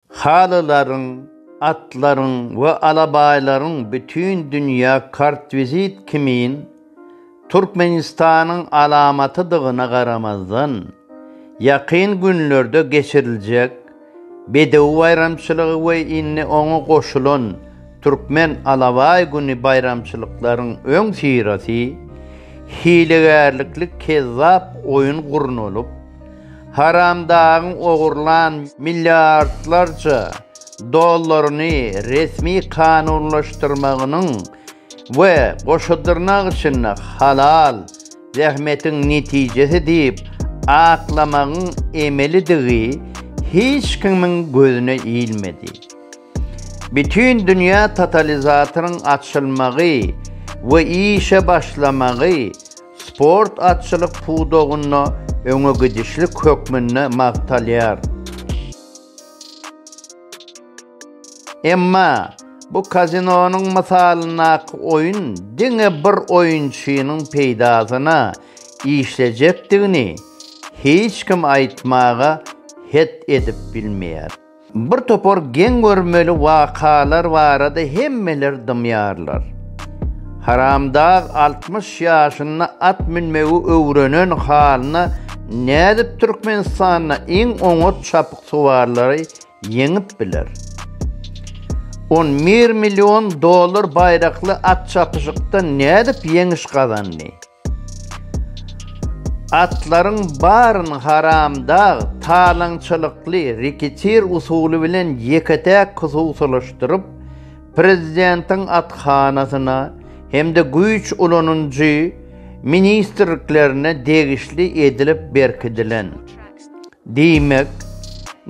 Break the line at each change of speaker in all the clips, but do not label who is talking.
Halylaryň, atlaryň we alabaýlaryň bütin dünýä kartvizit kimin Türkmenistanyň alamatydygyna garamazdan, ýakyn günlerde geçiriljek Bedew baýramçylygy we indi oňa goşulan Türkmen alabaý güni baýramçylyklaryň öňüsyrasy hilegärlikli kezzap oýun gurnalyp, Haramdagyň ogurlan milliardlarça dollaryny resmi kanunlaşdyrmagynyň we goşa dyrnak içinde halal zähmetiň netijesi diýip aklamagyň emelidigi hiç kimiň gözüne ilmedi. Bütindünýä totalizatoryň açylmagy we işe başlamagy sport atçylyk pudagynda öňegidişlik hökmünde magtalýar. Emma bu kazinonyň mysalyndaky oýun diňe bir oýunçynyň peýdasyna işlejekdigini hiç kim aýtmaga het edip bilmeýär. Bir topar geň görmeli wakalar barada hemmeler dymýarlar. Haramdag altmyş ýaşynda at münmegi öwrenen halyna nädip Türkmenistanda iň oňat çapyksuwarlary ýeňip biler? On bir million dollar baýrakly at çapyşykda nädip ýeňiş gazandy? Atlaryň baryny haramdag talaňçylykly reketir usuly bilen ýeke-täk hususylaşdyryp, prezidentiň athanasyna hem-de güýç ulanyjy ministrliklerine degişli edilip berkidilen. Diýmek,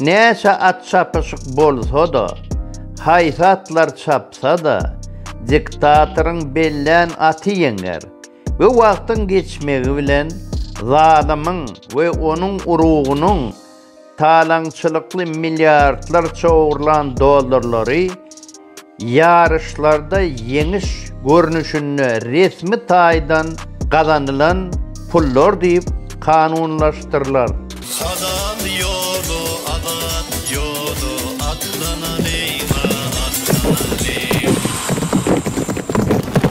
näçe at çapyşyk bolsa-da, haýsy atlar çapsa-da, diktatoryň bellän aty ýeňer we wagtyň geçmegi bilen zalymyň we onuň urugynyň talaňçylykly milliardlarça ogurlan dollarlary Ýaryşlarda ýeňiş görnüşinde resmi taýdan gazanylan pullar diýip kanunlaşdyrylar. Halal ýoly azat ýoly atlanalyň-a, atlanalyň.